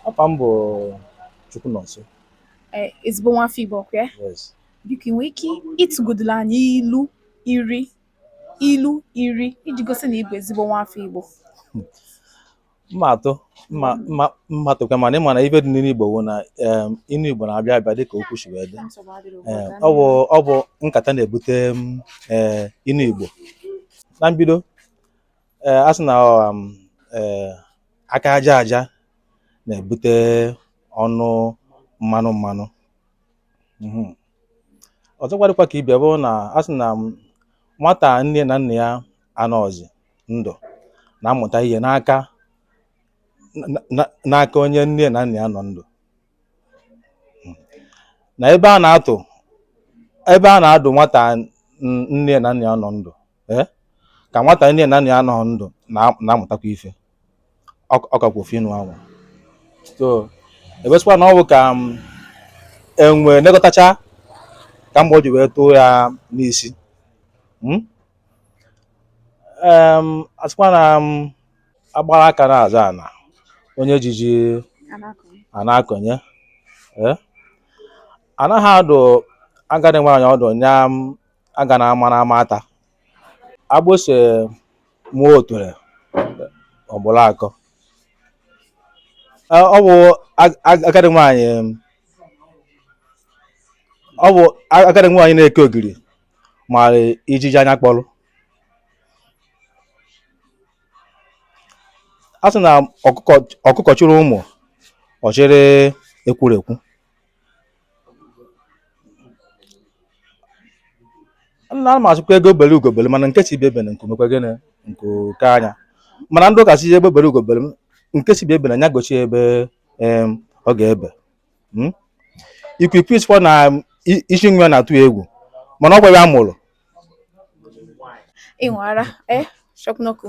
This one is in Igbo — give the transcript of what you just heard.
Afa m bụ Chukwunọnso. Eh, ezigbo nwa afọ Igbo ọkwa ya Yes. biko ị nwere ike ịtụgodula anyị ilu iri ilu iri iji gosi na ị bụ ezigbo nwa afọ Igbo m ma-atụ m ma m ma m ma-atụkwa mana ị ma na ife dị n'inu Igbo bụ na em, inu Igbo na-abịa abịa dịka okwu si wee dị Nsogbu adịrọ ugbu Ee, a. ọ bụ ọ bụ nkata na-ebute m, ee, inu Igbo na mbido ee a sị na ọ um, ee, aka aja aja na-ebute ọnụ mmanụ mmanụ Mhm. ọzọkwa dịkwa ka ibe ya bụ na a sị na um, nwata nne na nna ya anọọzi ndụ na-amụta ihe n'aka na- na- n'aka onye nne na nna ya nọ ndụ na ebe a na-atụ ebe a na-adụ nwata n- nne na nna ya nọ ndụ ee ka nwata nne na nna ya anọhọ ndụ na- na-amụtakwa ife ọ ọ kakwa ofu inu anwa so a bịa sịkwa na ọ bụ ka enwe nekọtacha ka mgbọ ji wee tụọ ya n'isi Mm? Em, a sịkwa na m a gbara aka na-azọ ana onye ji ji ana-akọnye eh? anaghị adụ agadi nwaanyị ọdụ nya agana ama na ama ata agbụsị mụọ oture ọ gbụrụ akọ eh, ọ bụ agadi nwaanyị ọ bụ agadi nwaanyị na-eke ogiri mara ijiji anya kpọrọ a sị na ọkụkọ ọkụkọ chịrị ụmụ ọ chịrị ekwurekwu nna m asịkwa egbe bere ugo bere mana nke sị ibe ya ebene nku mekwa gịnị nku kwaa nya mana ndị ụka sị egbe bere ugo bere m nke sị ibe ya ebene nya gosi ebe em, ọ ga-ebe Mm? ikwikwii sịkwa na i- isi nwa ya na-atụ ya egwu mana ọ kwa ya mụrụ ịṅụ ara, ee, chọpụnọkụ.